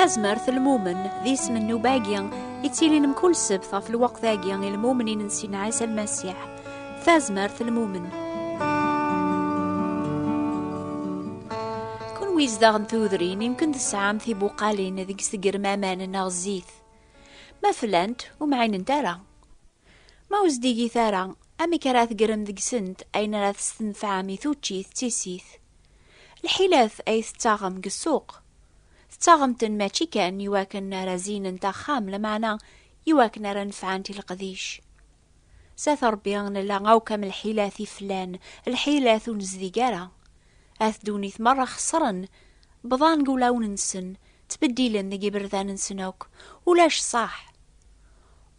tazmert lmumen d isem n ubagi ittilin mkul sebt ɣef lweqt-agi i lmumnin n Sina Ɛisa Lmasiḥ tazmert lmumen kunwi izdaɣ n tudrin yemkin tesɛam tibuqalin deg-s tegrem aman neɣ zzit ma flant ur mɛinent ara Ma ur zdigit ara, amek ara tgerrem deg-sent ayen ara testenfɛem i tuččit d tissit? Lḥilat ay tettaɣem deg ssuq, tettaɣem-ten mačči kan i wakken ara zinent axxam, lameɛna i wakken ara nefɛent i leqdic. S at Rebbi nella akk am lḥilat i flan, lḥilat ur nezdig ara. At ddunit merra xeṣren, bḍan deg ulawen-nsen, ttbeddilen deg iberdan-nsen akk, ulac ṣṣaḥ.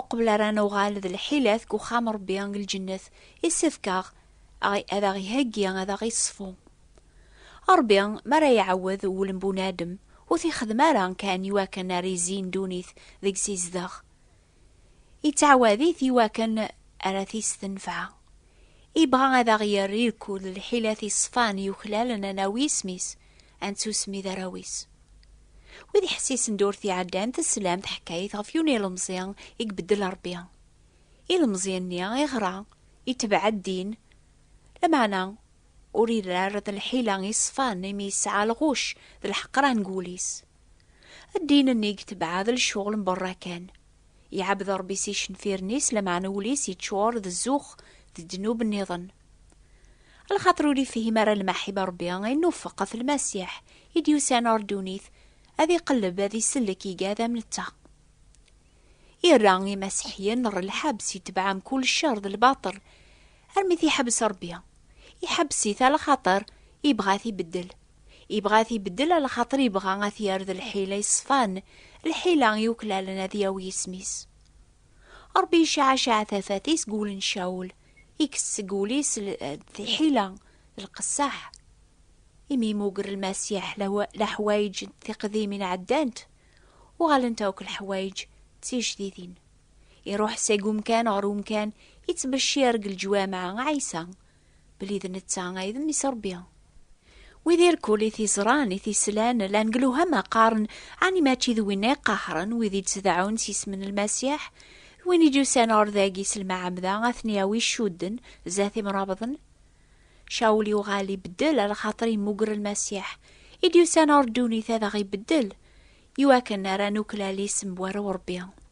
Uqbel ara nuɣal d lḥilat deg uxxam Ṛebbi deg lǧennet, issefk-aɣ ad aɣ-iheggi, ad aɣ-iṣfu. Ṛebbi mi ara iɛawed wul n bunadem, ur t-ixeddem ara kan i wakken ara izzi ddunit deg-s izdeɣ. Ittɛawad-it i wakken ara t-istenfeɛ. Ibɣa ad aɣ-yerr irkul d lḥilat iṣfan yuklalen ad nawi isem-is, ad nettusmi d arraw-is. Wid iḥessisen durt iɛeddan teslam teḥkayt ɣef yiwen ilemẓi i ibeddel Rebbi. Ilemẓi-nni iɣra, itebɛed ddin, lameɛna ur irra ara d lḥila iṣfan imi yesɛa lɣucc d lḥeqran deg wul-is. Ddin-nni i itebɛa d lecɣel n berra kan. Iɛabed Rebbi s icenfiren-is lameɛna wul-is yeččur d zzux d ddnub nniḍen. Ala xaṭer ur ifhim ara lmaḥib n Ṛebbi i nwufeq ɣef Lmasiḥ i d-yusan ɣer ddunit ad iqelleb ad isellek igad am netta. Irra Imaseḥiyen ɣer lḥebs, itebɛen kull ccer d lbaṭel armi t-iḥebbes Ṛebbi. Iḥebbes-it ala xaṭer ibɣa ad t-ibeddel. Ibɣa ad t-ibeddel ala xaṭer ibɣa ad t-yerr d lḥila iṣfan, lḥila yuklalen ad yawi isem-is. Ṛebbi icaɛcaɛ tafat-is deg wul n Cawul, ikkes seg wul-is tiḥila d lqesseḥ. Imi yemmuger Lmasiḥ leḥwayeǧ n tiqdimin ɛeddant, uɣalent akk leḥwayeǧ d tijdidin. Iṛuḥ seg umkan ɣer umkan, ittbeccir deg leǧwameɛ Ɛisa. Belli d netta ay d mmi-s Rebbi. Wid irkul i t-iẓran, i t-islan, llan deg lewhama qqaren, ɛni mačči d winna i qehren wid i d-tdeɛɛun s isem n Lmasiḥ? D win i d-yusan ɣer dagi s lmeɛmda ad ten-yawi ccudden, zdat imrabḍen? Cawul yuɣal ibeddel ar lxaṭer yemmugger Lmasiḥ, i d-yusan ɣer ddunit ad aɣ-ibeddel, iwakken ara nuklal isem n Urebbi.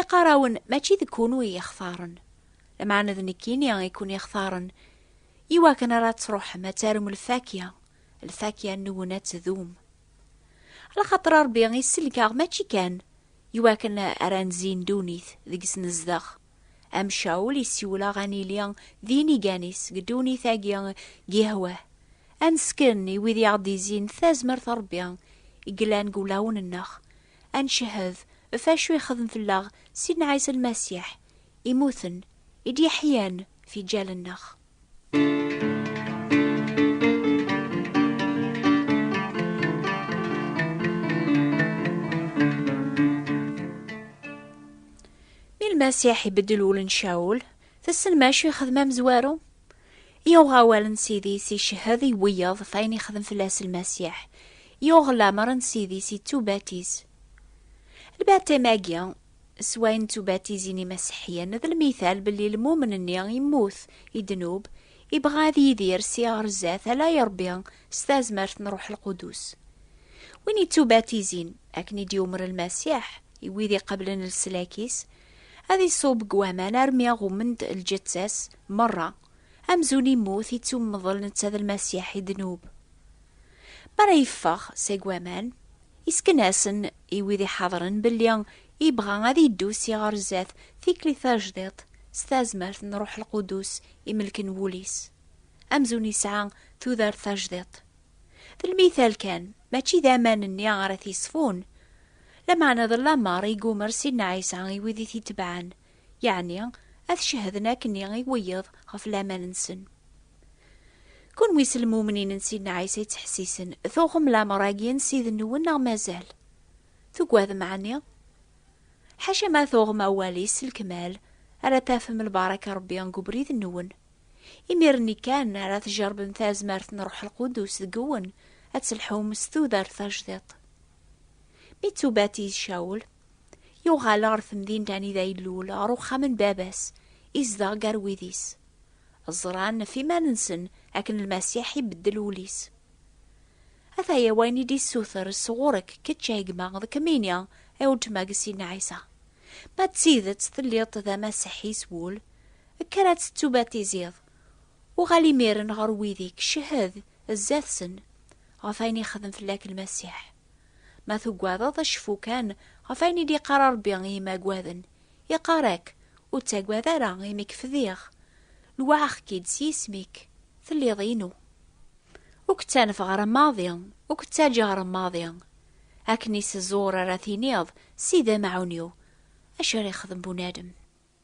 Iqarawen mačči deg kunu i ixtaren, lameɛna d nekkini i kun ixtaren, iwakken ara truḥem ad tarum lfakya, lfakya nwen ad tdum. Lxaṭer Ṛebbi isellek-aɣ mačči kan iwakken ara nzin ddunit deg-s nezdeɣ, am Cawul isiwel-aɣ ad nili d inigan-is deg ddunit-agi deg ihwah, ad nesken i wid i aɣ-d-izin tazmert n Ṛebbi i yellan deg wulawen-nneɣ, ad ncehhed ɣef wacu yexdem fell-aɣ Sidna Ɛisa Lmasiḥ, imuten i d-yeḥyan fiǧal-nneɣ. Mi Lmasiḥ ibeddel wul n Cawul, tessen macu yexdem amezwaru? Yuɣ awal n Sidi-s icehhed i wiyeḍ ɣef ayen ixdem fell-as Lmasiḥ. Yuɣ lamer n Sidi-s ittubatiz. Lbaṭṭim-agi, s wayen d tubatizin imaseḥyen, d lmital belli lmumen-nni immut i ddnub, ibɣa ad yidir si ɣer zdat ala i Rebbi s tazmert n Ruḥ Lqudus. Win ittubatizin, akken i d-yumer Lmasiḥ, i wid iqeblen leslak-is, Ad iṣub deg waman armi ɣummen-d lǧetta-s merra, amzun immut, ittummḍel netta d Lmasiḥ i ddnub. Mi ara yeffeɣ seg waman, isken-asen i wid iḥadren belli ibɣa ad iddu si ɣer zdat tikli tajdiṭ s tazmert n Ruḥ Lqudus imelken wul-is, amzun isɛa tudert tajdiṭ. D lmital kan, mačči d aman-nni ara t-yesfun. Lameɛna d lamer i yummer Sidna Ɛisa i wid i t-itebɛen, yeɛni ad cehden akken i wiyeḍ ɣef laman-nsen. Kunwi s lmumnin n Sidna Ɛisa yettḥessisen, tuɣem lamer-agi n Ssid-nwen neɣ mazal? Tugadem ɛni? Ḥaca ma tuɣem awal-is s lekmal, ara tafem lbaraka n Rebbi deg ubrid-nwen. Imir-nni kan ara tjerbem tazmert n Ṛuḥ Lqudus deg-wen, ad telḥum s tudert tajdiṭ. Mi ttubatiz Cawul, yuɣal ɣer temdint anida ilul, ɣer uxxam n baba-s, izdeɣ gar wid-is. Ẓran ɣef iman-nsen akken Lmasiḥ ibeddel ul-is. Ataya wayen i d-issuter s ɣur-k, kečč a gma, d kemmini, a weltma deg Sidna Ɛisa. Ma d tidet telliḍ d Amasiḥi s wul, Kker ad tettubatiziḍ, uɣal imiren ɣer wid-ik, cehhed zdat-sen ɣef wayen yexdem fell-ak Lmasiḥ. Ma tugadeḍ, cfu kan ɣef wayen i d-iqqar Rebbi i yimaggaden, iqqar-ak, Ur ttagad ara, imi k-fdiɣ, lwaɛeɣ-k-id s yisem-ik, telliḍ inu. Ur k-ttanfeɣ ara maḍi, ur k-ttaǧǧaɣ ara maḍi. Akken i s-ẓur ara tiniḍ, Sidi amaɛun-iw, acu ara yexdem bunadem?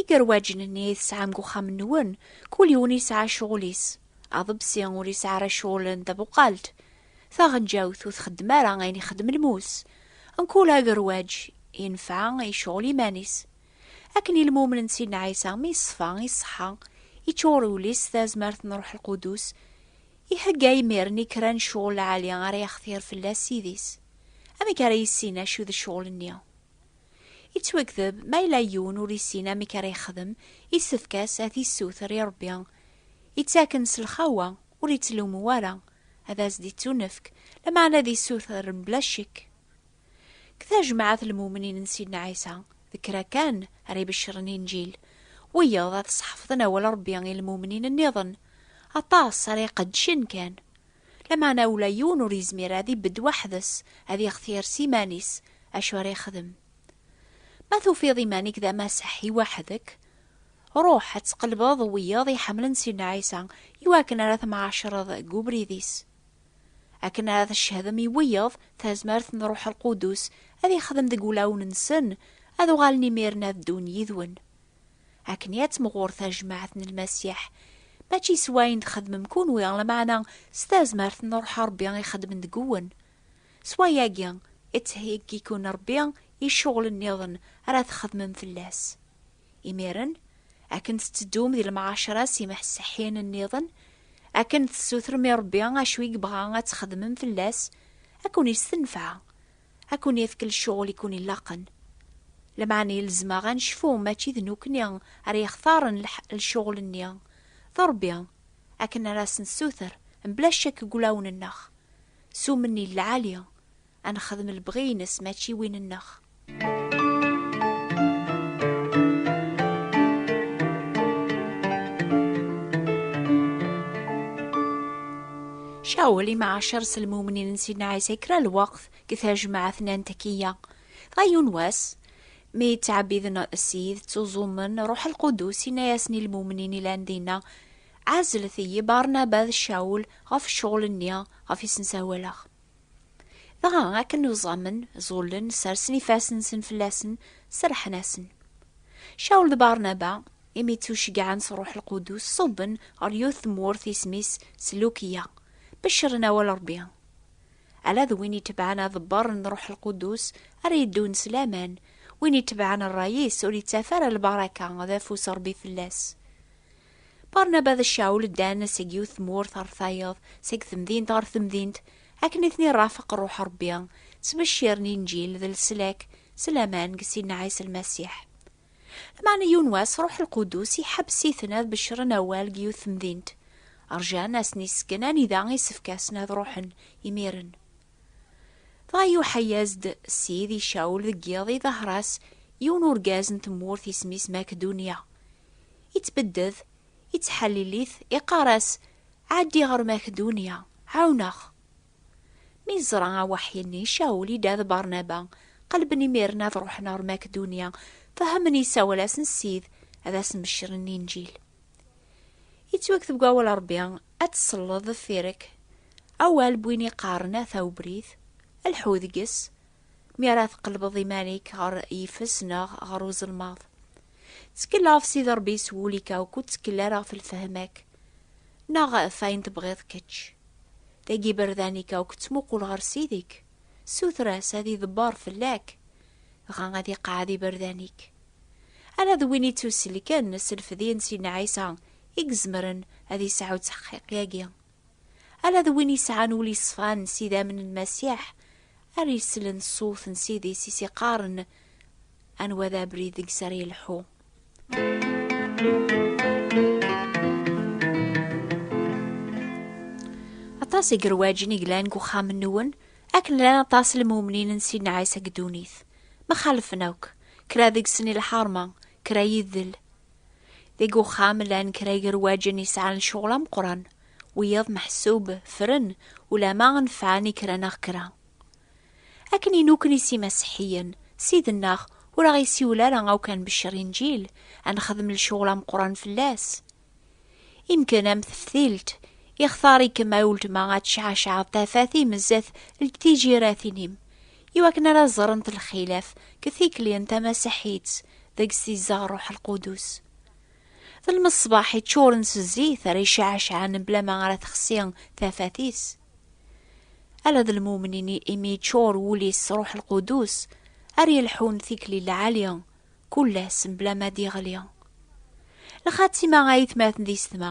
Igerwaǧen-nni i tesɛam deg uxxam-nwen, kul yiwen yesɛa ccɣel-is. Aḍebsi ur yesɛi ara ccɣel n tabuqalt. Taɣenǧawt ur txeddem ara ayen ixeddem lmus. Mkul agerwaǧ yenfa i ccɣel iman-is. Akken i lmumen n Sidna Ɛisa mi yeṣfa, iṣeḥḥa, yeččur wul-is s tazmert n Ṛuḥ Lqudus, ihegga imiren i kra n ccɣel lɛali ara yextir fell-as Ssid-is. Amek ara yissin acu d ccɣel-nni? Yettwagdeb, ma yella yiwen ur yessin amek ara yexdem, yessefk-as ad t-yessuter i Rebbi. Yettaken s lxawa, ur yettlummu ara, ad as-d-ittunefk, lameɛna ad yessuter mebla ccek. Deg tajmaɛt n lmumnin n Sidna Ɛisa, d kra kan ara ibeccren Inǧil, wiyaḍ ad sḥefḍen awal n Rebbi i lmumnin nniḍen, aṭas ara iqeddcen kan, Lameɛna ula yiwen ur yezmir ad ibedd weḥd-s, ad ixtir s iman-is acu ara yexdem. Ma tufiḍ iman-ik d amaseḥ i weḥd-k, ruḥ ad tqelbeḍ wiyaḍ iḥemmlen Sidna Ɛisa i wakken ara temɛaccreḍ deg ubrid-is. Akken ara tcehedem i wiyaḍ tazmert n Ṛuḥ Lqudus ad ixdem deg wulawen-nsen, ad uɣalen imir-nni ad ddun yid-wen. akken i ad temɣur tajmaɛt n lmasiḥ, mačči s wayen txedmem kunwi, lameɛna s tazmert n Ṛuḥ Ṛebbi ixeddmen deg-wen. S wayagi, ittheyyi-ken Ṛebbi i ccuɣel nniḍen ara txedmem fell-as. Imiren, akken tetteddum di lemɛaceṛa s imḥesḥiyen nniḍen, akken tessutrem i Ṛebbi acu i yebɣa ad txedmem fell-as, ad ken-istenfeɛ. ad ken-yefk lecɣel i ken-ilaqen. Lameɛna ilzem-aɣ ad necfu mačči d nukni ara yextaren lecɣel-nni, d Rebbi, akken ara as-nessuter mebla ccek deg wulawen-nneɣ, s umenni n lɛali, ad nexdem lebɣi-ines mačči win-nneɣ. Cawel i mɛacer s lmumnin n Sidna Ɛisa kra lweqt deg tajmaɛt n Antakya. Dɣa yiwen wass, mi ttɛebbiden Ssid, ttuẓumen, Ṛṛuḥ Lqudus yenna-yasen i lmumnin ilan dinna, Ɛezlet-iyi Barnaba d Cawel ɣef ccɣel-nni ɣef i sen-ssawaleɣ. Dɣa akken uẓamen, ẓullen, sersen ifassen-nsen fell-asen, serrḥen-asen. Cawel d Barnaba imi ttuceggɛen s Ṛuḥ Lqudus, ṣubben ɣer yiwet tmurt isem-is Selukya, beccren awal Ṛebbi. Ala d win itebɛen aḍebber n Ṛuḥ Lqudus ara yeddun s laman, win itebɛen ṛṛay-is ur ittaf ara lbaraka d afus n Ṛebbi fell-as. Barnaba d Cawul ddan seg yiwet tmurt ɣer tayeḍ, seg temdint ɣer temdint, akken i ten-iṛafeq Ṛuḥ Ṛebbi, ttbecciren Inǧil d leslak s laman deg Sinɛi s Lmasiḥ. Meɛna yiwen wass Ruḥ Lqudus iḥebbes-iten ad beccren awal deg yiwet temdint. Rjan ad asen-isken anida isefk-asen ad ruḥen imiren. Dɣa iuḥa-yas-d Ssid i Cawul deg yiḍ iḍaher-as yiwen urgaz n tmurt isem-is Makdunya. Ittbedded, ittḥallil-it, iqqar-as, Ɛeddi ɣer Makdunya, ɛawen-aɣ! Mi yeẓra awaḥi-nni, Cawul idda d Barnaba, qelben imir-nni ad ruḥen ɣer Makedunnya, fehmen isawal-asen Ssid ad asen-beccren Linǧil. Yettwakteb deg wawal Rebbi, Ad tselleḍ deffir-k awal n win iqqaren ata ubrid, lḥu deg-s, mi ara tqelbeḍ iman-ik ɣer yifes neɣ ɣer uzelmaḍ. Ttekkel ɣef Sidi Ṛebbi s wul-ik akk, ur ttekkel ara ɣef lfehma-k neɣ ɣef ayen tebɣiḍ kečč. Dagi iberdan-ik akk, ttmuqul ɣer Sidi-k, ssuter-as ad iḍebber fell-ak, dɣa ad iqeɛɛed iberdan-ik. Ala d win ittuselken s lfedyen si Nna Ɛisa i izemren ad isɛu ttḥeqqiq-agi. Ala d win yesɛan ul yeṣfan s idammen n Masiḥ ara yeslen ṣṣut n Ssid-is i s-iqqaren anwa d abrid deg-s ara yelḥu. Aṭas i gerwaǧen i glan deg uxxam n Nuwen, akken llan aṭas n lmumnin n Sidna Ɛisa deg ddunit. Ma xalfen akk, kra deg-sen i lḥerma, kra yidel, Deg uxxam llan kra igerwaǧen yesɛan ccɣel ameqqran, wiyaḍ meḥsub fren ulama nefɛen i kra neɣ kra. Akken i nuken i simaseḥiyen, ssid-nneɣ ur aɣ-isiwel ara akk ad nbeccer Inǧil, ad nexdem lecɣel ameqqran fell-as. Imken am teftilt, ixtar-ikem a uletma ad tecɛecɛeḍ tafat i mezzet lǧ-tijiratin-im, i wakken ara ẓrent lxilaf deg tikli n tamasiḥit deg s-izdeɣ Ṛṛuḥ Lqudus. D lmeṣbaḥ yeččuren s zzit ara yecɛacɛen mebla ma ara texsi tafat-is. Ala d lmumnin imi yeččur wul-is s Ṛṛuḥ Lqudus ara yelḥun tikli lɛali, kul ass mebla ma d-yeɣli. Lxatima ay atmaten d yessetma,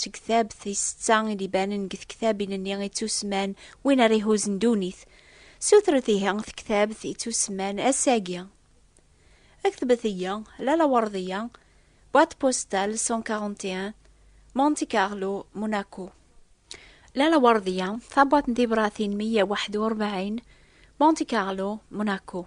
Tektab tisetta i d-ibanen deg tektabin-nni i ttusemman win ara ihuzen ddunit. Sutret ihi tektabt i ttusemman ass-agi. Aktbet-iyi, Lala Werdiya, boîte postale 141, Monte Carlo, Monaco. Lala Werdiya, tabwaṭ n tibratin 141, Monte Carlo, Monaco.